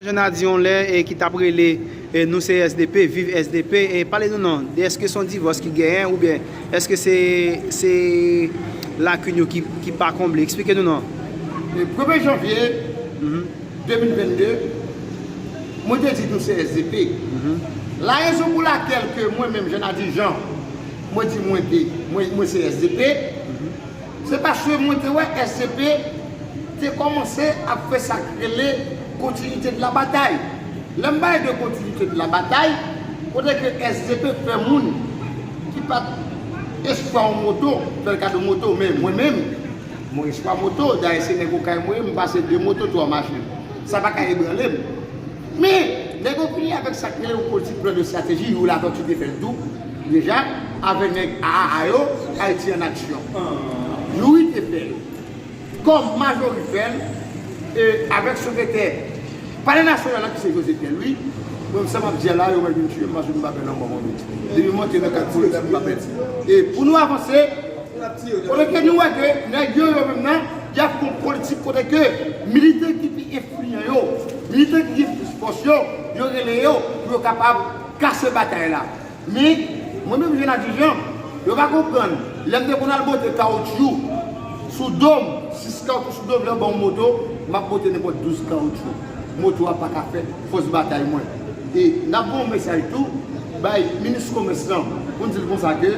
Jeune a di yon lè e ki tap rele nou se sdp viv sdp e pale nou non de eske son divòs ki genyen oubyen eske se se lakin yo ki ki pa konble eksplike nou non. Le premye janvye 2022 mwen te di nou se sdp la rezon pou lakèl ke mwen menm jeune a di jean mwen di mwen te mwen se sdp. Se paske mwen te wè SCP te kòmanse ap fè sa k rele continuité de la bataille. Lè m pale de continuité de la bataille, kote ke SCP fè moun ki pa t espwa yon moto, fè l kado moto, men mwen menm, mwen espwa moto, dayè se nèg okay mwen ye, m pase de moto, twa machin. Sa pa ka ebranle m. Men, lè gen yon fini avèk sa k rele yon politik plan de strateji, Youri Latortue te fè l tou deja avè nèg aaa yo, Ayiti an aksyon. Youri te fè l kòm Majori fè l e avèk sekretè palè nasyonal la ki se José Pierre Louis. Donk sa m ap di a la, yo wè l vin tiye m paske m pa pè lanmò manmi. Depi m monte nan kay politik m pa pè l. E pou nou avanse. Kote ke nou wè ke nèg yo yo menm nan yap yon politik kote ke militè ki pi enfliyan yo, militè ki gen plis fòs yo, yo rele yo pou yo kapab kase batay la. Men, mwen menm Jean Ladjy Jean, yo pa konprann, lèm te konn al bote kawoutchou sou dom, 6 kawoutchou sou dom, lè yo banm moto, map bote nenpòt 12 kawoutchou. Moto a paka fè fòs batay mwen. E nap voye yon mesaj tou bay minis komès lan pou n dil konsa ke.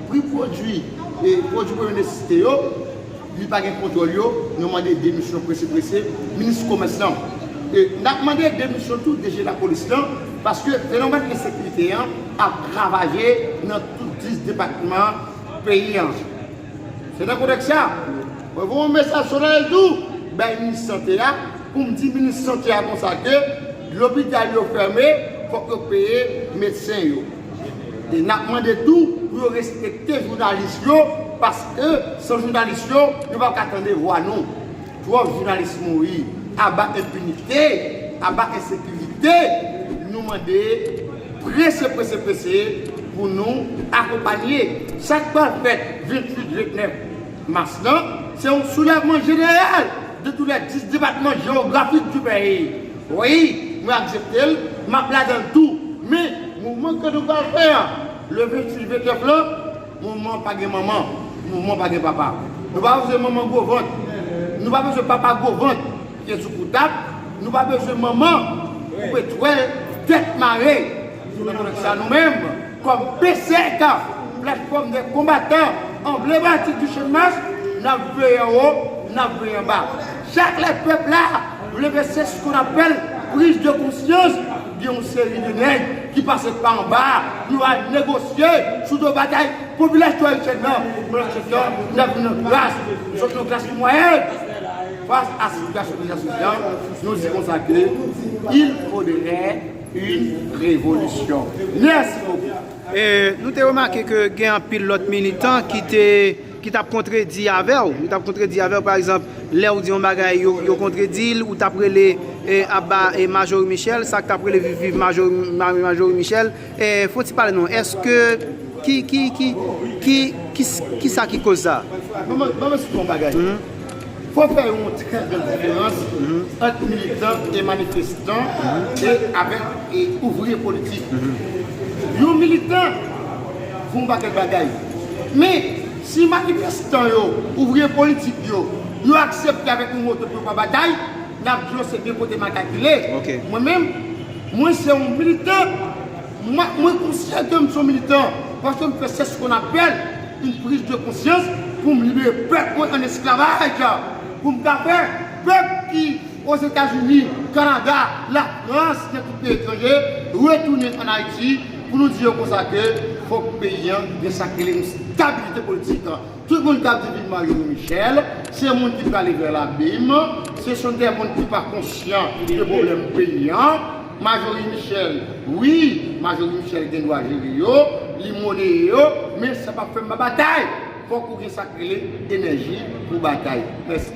Pri pwodwi e pwodwi premye nesesite yo, li pa gen kontwòl yo, nou mande demisyon prese prese minis komès lan. E n ap mande demisyon tou DG lapolis lan paske fenomèn ensekirite an ap ravaje nan tout 10 depatman peyi an. Se nan kontèks sa, mwen voye yon mesaj solennèl tou bay minis sante a pou m di minis sante a konsa ke lopital yo fèmen, fòk yo peye medsen yo. E nap mande tou pou yo respekte jounalis yo paske san jounalis yo, yo pap ka tande vwa nou. Twòp jounalis mouri. Aba enpinite, aba ensekirite. Nou mande prese prese prese pou nou akonpanye sak pral fèt 28, 29 mas lan. Se yon soulèvman jeneral de tou lè 10 depatman jewografik du peyi. Wi, mwen aksepte l, m ap ladan l tou. Men, mouvman ke nou pral fè an, le 28 29 lan, mouvman an pa gen manman, mouvman an pa gen papa. Nou pa bezwen manman gwo vant, nou pa bezwen papa gwo vant ki gen sou kou tab, nou pa bezwen manman koupe twèl, tèt mare. Se nan kontex sa nou menm, kòm PCK, Platfòm dè Konbatan Anblematik di Channmas, n ap veye anwo, n ap veye anba. Chak lè pèp la leve se sk on apèl prise de conscience, gen yon seri de nèg ki pase pa anba a pou yo al negosye sou do bagay popilasyon ayisyèn nan. Pandan se tan, n ap viv nan kras, nou sot nan klas mwayèn. Fas a sitiyasyon dezastwez la, nou di konsa ke il faudrait une révolution. Mèsi bokou. Nou te remake ke gen anpil lòt militan ki te. ki tap kontredi avèw, yo tap kontredi avèw pa egzanp lèw di yon bagay yo kontredil ou tap rele aba Marjorie Michel sak tap rele viv viv Marjorie Michel fon ti pale non eske ki ki ki ki kisa ki koz sa. Banm esplike yon bagay. Fò fè yon trè gran diferans ant militan e manifestan e avèk ouvriye politik. Yon militan fè yon pakèt bagay. Men, si manifestan yo, ouvriye politik yo, yo aksepte avèk yon moto pou yo pa batay, n ap di yo se de kote makak vire. Mwen menm, mwen se yon militan Mwen konsyan ke m son militan paske m fè sèch kon apèl yn priz de konsyans pou m libere pèp mwen an esklavaj pou m ka fè pèp ki Ozetazini, Kanada, Lafrans nan tout peyi etranje retounen an Ayiti pou nou di yo konsa ke fòk peyi an gen sak rele yon stabilite politik. Tout moun kap di vin marye nou Michel se moun ki prale vè labim se son dè moun ki pa konsyan de problèm peyi an majori Michel wi majori Michel gen dwa jere yo li moneye yo men sa pap fè m pa batay fòk ou gen sak rele enèji pou batay mèsi.